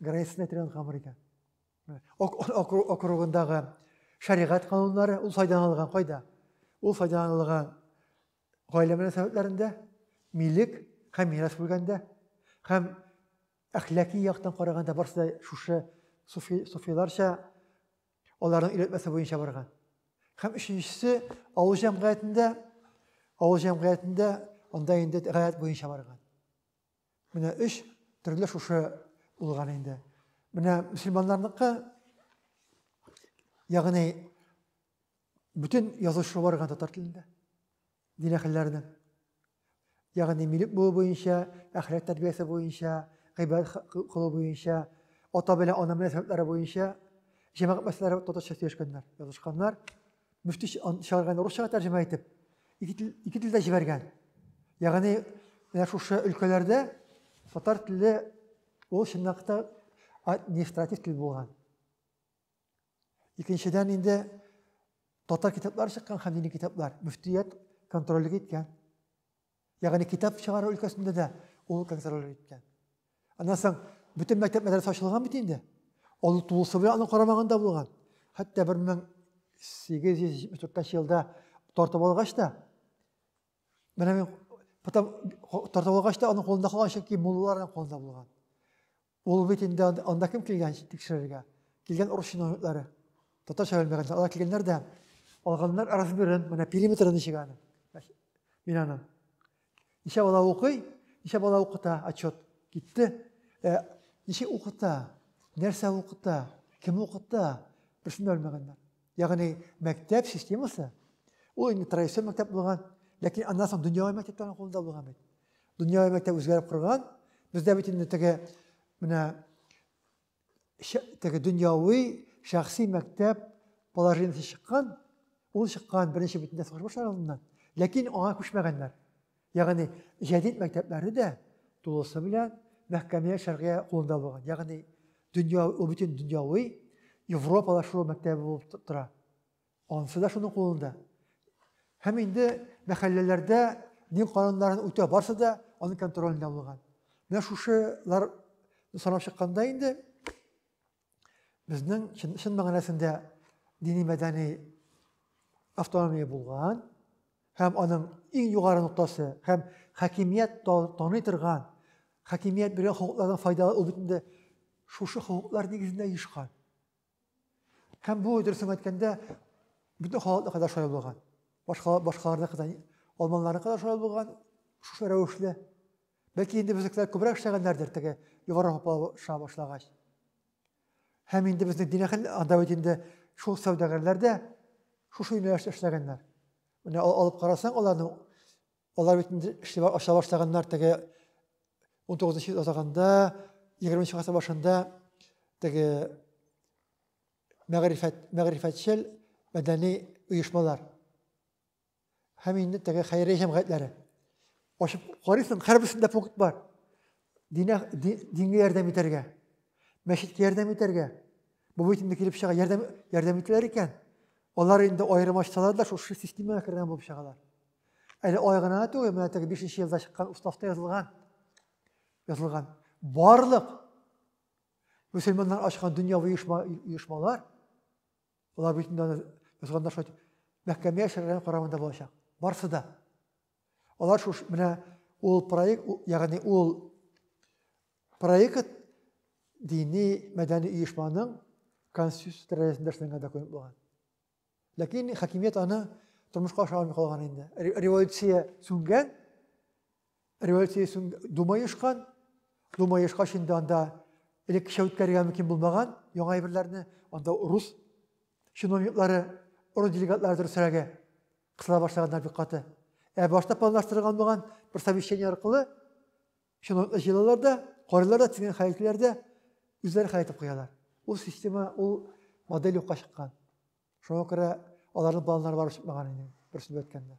границасына тирән камыр икән. Округындагы шәригать кануннары ул файдаланылган кайда? Ул файдаланылган гаилә мөнәсәбәтләрендә, милек һәм мирас бүлгәндә һәм Әхлаки яктан караганда барысы да шушы суфи, суфиларча аларның өйрәтмәсе буенча барган. Һәм өченчесе авыл җәмгыятендә авыл җәмгыятендә анда инде гаять буенча барган. Менә өч төрле шушы булган инде. Менә мөселманнарныкы ягъни бөтен язучы барган татар телендә. Динәхилләрнең, ягъни милек булу буенча, әхлак тәрбиясе буенча, гыйбадәт кылу буенча, ата белән ана мөнәсәбәтләре буенча җәмәгать мәсьәләләре татарча сөйләшкәннәр, язышканнар. Мөфти чыгарган русчага тәрҗемә итеп, ике тел, ике телдә җибәргән. Ягъни, менә шушы өлкәләрдә татар теле ул чынлыкта административ тел булган. Икенчедән инде татар китаплары чыккан һәм дини китаплар мөфтият контрольлек иткән. Ягъни китап чыгару өлкәсендә дә ул контроль иткән. Аннан соң бөтен мәктәп мәдрәсә ачылган бит инде. Ул тулысы белән аның карамагында булган. Хәтта 1874 елда тартып алгач та менә мен потом тартып алгач та аның кулында калган чөнки муллаларның кулында булган. Ул бит инде анда кем килгән тикшерергә? Килгән урыс чиновниклары. Татарча белмәгән. Алар килгәннәр дә алганнар разбирен, менә периметры ничек аны. Мин аны. Ничә бала укый, ничә бала укыта, отчет. Китте. Э, ничек укыта, нәрсә укыта, кем укыта, берсен дә белмәгәннәр. Ягъни мәктәп системасы ул инде традицион мәктәп булган, ләкин аннан соң дөньяви мәктәпләрнең кулында булган бит. Дөньяви мәктәп үзгәреп корган. Бездә бит инде теге менә теге дөньяви шәхси мәктәп положениесе чыккан, ул чыккан беренче бөтендә сугыш башлар алдыннан, ләкин аңа күчмәгәннәр. Ягъни җәдит мәктәпләре дә тулысы белән мәхкәмия шәргыя кулында булган. Ягъни дөнья, ул бөтен дөньяви европалашу мәктәбе булып тора. Анысы да шуның кулында. Һәм инде мәхәлләләрдә дин кануннарын үтә барсы да аның контролендә булган. Менә шушылар санап чыкканда инде Безнең чын, чын мәгънәсендә дини-мәдәни автономия булган һәм аның иң югары ноктасы һәм хакимият таный торган хакимият биргән хокуклардан файдалы ул бит шушы хокуклар нигезендә оешкан. Һәм бу дөресен әйткәндә бөтен халыкны кадәр шулай булган. Башка башкаларны кадәр алманларны кадәр шулай булган шушы рәвешле. Бәлки инде безнекеләр күбрәк эшләгәннәрдер теге югары һаплаша башлагач. Һәм инде безнең динәхел анда бит инде шул сәүдәгәрләр дә шушы юнәлештә эшләгәннәр. Менә алып карасаң аларны, алар бит инде эшли аша башлаганнар теге 19 йөз азагында, 20 гасыр башында теге мәгърифәт, мәгърифәтчел мәдәни оешмалар. Һәм инде теге хәйрия җәмгыятьләре. Ачып карыйсың, һәрберсендә пункт бар. Динә, дингә ярдәм итәргә, мәчеткә ярдәм итәргә. Бу бит инде килеп чыга, ярдәм, ярдәм итәләр икән. Алар инде аерым ачсалар да, шушы системага кергән булып чыгалар. Әле ай гына түгел, менә теге бишенче елда чыккан уставта язылган. Язылган. Барлык мөселманнар ачкан дөньяви оешма, оешмалар, Алар бит инде аны язганда шулай дип мәхкәмә шәргәләре карамында булачак. Барсы да. Алар шуш менә ул проект, ягъни ул проект дини мәдәни оешманың конституция рәясендә эшләнгән документ булган. Ләкин хакимият аны тормышка ашыра алмый калган инде. Революция сүнгән, Революция соң Дума оешкан. Дума оешкач инде анда элеккечә үткәрергә мөмкин булмаган яңа әйберләрне. Анда рус чиновниклары, рус делегатлары дөресрәге кысыла башлаганнар бик каты. Ә башта планлаштырылган булган бер совещание аркылы чиновниклар җыелалар да, карыйлар да, тезген хәйләтләр дә үзләре хәл итеп куялар. Ул система, ул модель юкка чыккан. Шуңа күрә аларның планнары барып чыкмаган инде, бер сүз әйткәндә.